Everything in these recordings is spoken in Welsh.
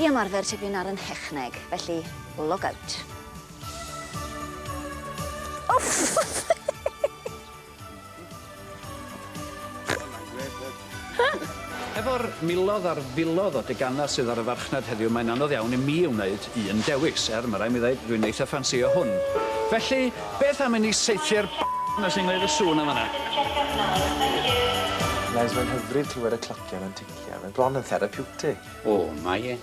I ymarfer tipyn ar 'y nhechneg, felly log out. Efo'r milodd ar filodd o deganau sydd ar y farchnad heddiw mae'n anodd iawn i mi wneud un dewis, er ma' raid mi ddeud dwi'n eitha ffansïo hwn. Felly, beth am i ni saethu'r 'na sy'n gwneud y sŵn yn fan'na? Bles, mae'n hyfryd clywed y clocian yn ticio, mae'n bron yn therapiwtig! O, mae e.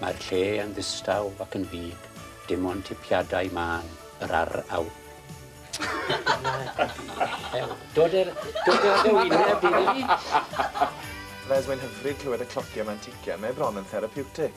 Mae'r lle yn ddistaw ac yn fud, dim ond tipiadau mân yr ar aw. Dod â dy wyneb i ni! Res, mae'n hyfryd clywed y clociau ma'n ticio, mae bron yn therapiwtig.